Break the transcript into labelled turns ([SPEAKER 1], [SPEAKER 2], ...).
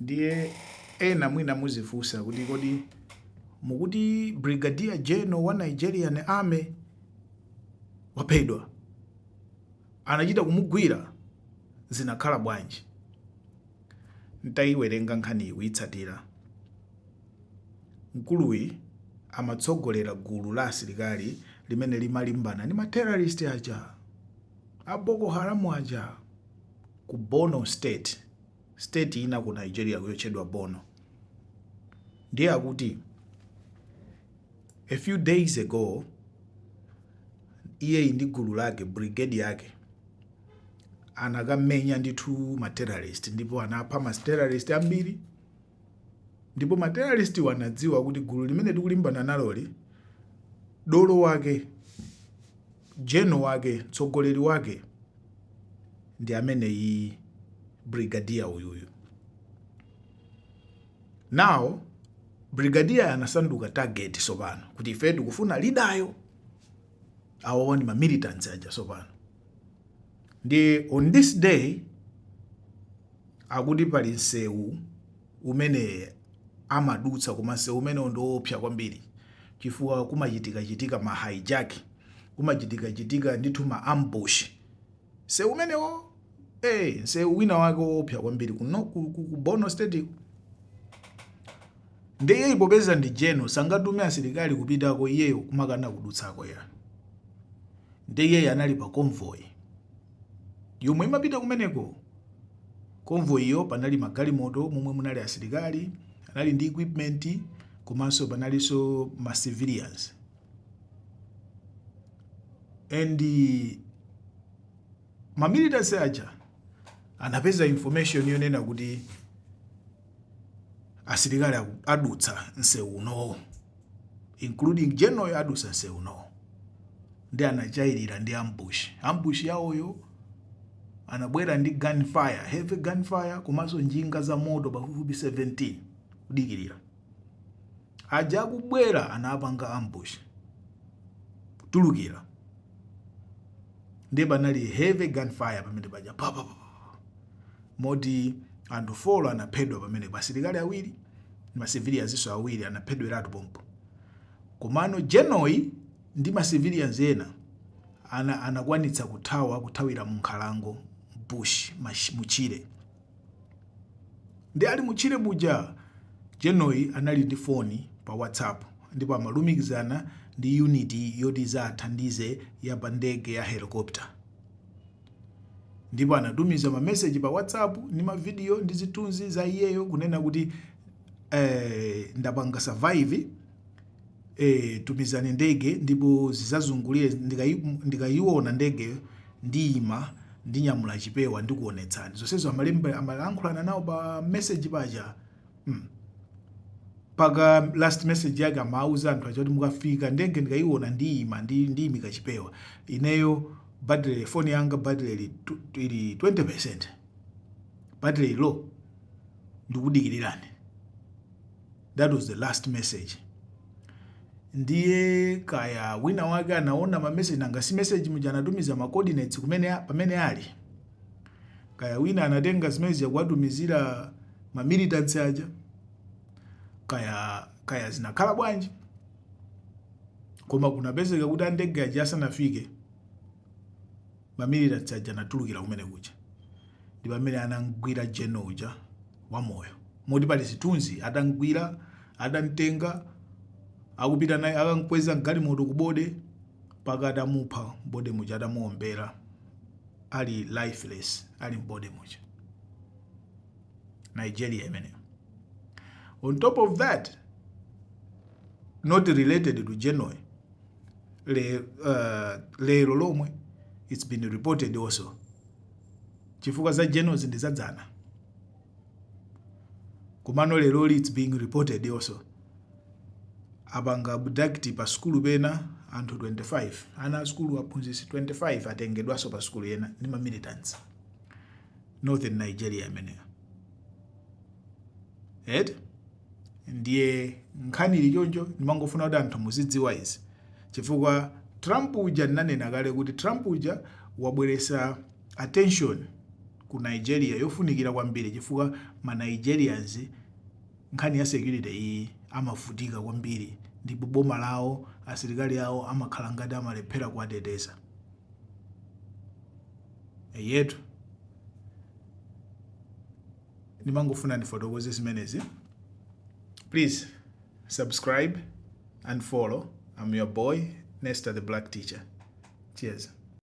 [SPEAKER 1] ndiye ena mwina muzifunsa kuti kodi mukuti brigadier general wa nigerian army waphedwa anachita kumugwira zinakhala bwanji ntayiwerenga nkhaniyi kuitsatira mkuluyi amatsogolera gulu la asilikali limene limalimbana ndi materrorist aja a boko haramu aja ku Borno state, state ina ku Nigeria yotchedwa Borno. Ndiye akuti a few days ago iyeyi ndi gulu lake brigade yake anakamenya ndithu ma terrorist ndipo anapha ma terrorist ambiri Ndipo ma terrorist wa anadziwa kuti gulu limene tikulimbana naloli dolo wake general wake mtsogoleri wake ndi ameneyi brigadier uyuyu. Now brigadier anasanduka target sopano kuti ife tikufuna lidayo awo ndi ma militants aja sopano. Ndi on this day akuti pali nsewu umene amadutsa koma nsewu umenewo ndi oopsa kwambiri chifukwa kumachitikachitika ma hijack, kumachitikachitika ndithu ma ambush. Nsewu umenewo, nsewu wina wake oopsa kwambiri ku Borno State-ko Nde iyeyi popeza ndi general sangatume asilikali kupitako iyeyo kumakana kudutsako ya. Nde iyeyi anali pa convoy yomwe imapita kumeneko. Convoy iyo panali magalimoto momwe munali asilikali, anali ndi equipment komanso panalinso ma civilians. And ma militants aja anapeza information yonena kuti asilikali adutsa msewu unowo including general adutsa msewu unowo ndi anatchayirira ndi ambush ambush yawoyo anabwera ndi gunfire heavy gunfire komanso njinga za moto pafupifupi 17 kudikirira aja akubwera anapanga ambush kutulukira ndiye panali heavy gunfire pamene paja moti anthu 4 anaphedwa pamenepo, asilikali awiri ndi ma civilians-nso awiri anaphedweratu pompo. Komano General-yi ndi ma civilians ena anakwanitsa kuthawa kuthawira mu nkhalango, bush, mu tchire. Ndi ali mu tchire muja, General-yi anali ndi foni pa WhatsApp ndipo amalumikizana ndi unit yoti izawathandize ya pa ndege ya helicopter. Ndipo anatumiza mameseji pa WhatsApp ndi mavidiyo ndi zithunzi za iyeyo kunena kuti eh, ndapanga survive eh, tumizani ndege ndipo zizazungulire ndikai- ndikaiona ndegeyo ndiyima ndinyamula chipewa ndikuonetsani zonsezo amalemba amalankhulana nawo pa message paja mpaka last message yake amauza anthu aja kuti mukafika ndege ndikaiona ndiyima ndi ndiyimika chipewa ineyo Battery phone yanga battery ili ili 20% battery low ndikudikilirani that was the last message ndiye kaya wina wake anaona ma message nanga si message muja anatumiza ma coordinates kumene pamene ali kaya wina anatenga zimene zija kuwatumizira ma militants aja kaya kaya zinakhala bwanji koma kunapezeka kuti andege aja asanafike mamilitants aja anatulukira kumene kuja ndi pamene anamgwira general uja wamoyo moti pali zithunzi atamgwira atamtenga akupita naye akamkweza mgalimoto kubode mpaka atamupha mbode muja atamuombera ali lifeless ali mbode muja nigeria imeneyo on top of that not related to general le, uh, lero lomwe it's been reported also chifukwa za general ndi zadzana komano lero it's being reported also apanga abduct pa skulu pena anthu 25 ana a skulu aphunzitsi 25 atengedwanso pa skulu ina ndi ma militants northern nigeria imeneyo eti ndiye nkhani ili choncho ndimangofuna kuti anthu muzidziwa izi chifukwa trump uja ndinanena kale kuti trump uja wabweresa attention ku nigeria yofunikira kwambiri chifukwa ma nigerians nkhani ya security iyi amavutika kwambiri ndipo boma lawo asilikali awo amakhala ngati amalephera kuwateteza eyetu ndimangofuna ndifotokoze zimenezi please subscribe and follow i'm your boy nesta the black teacher cheers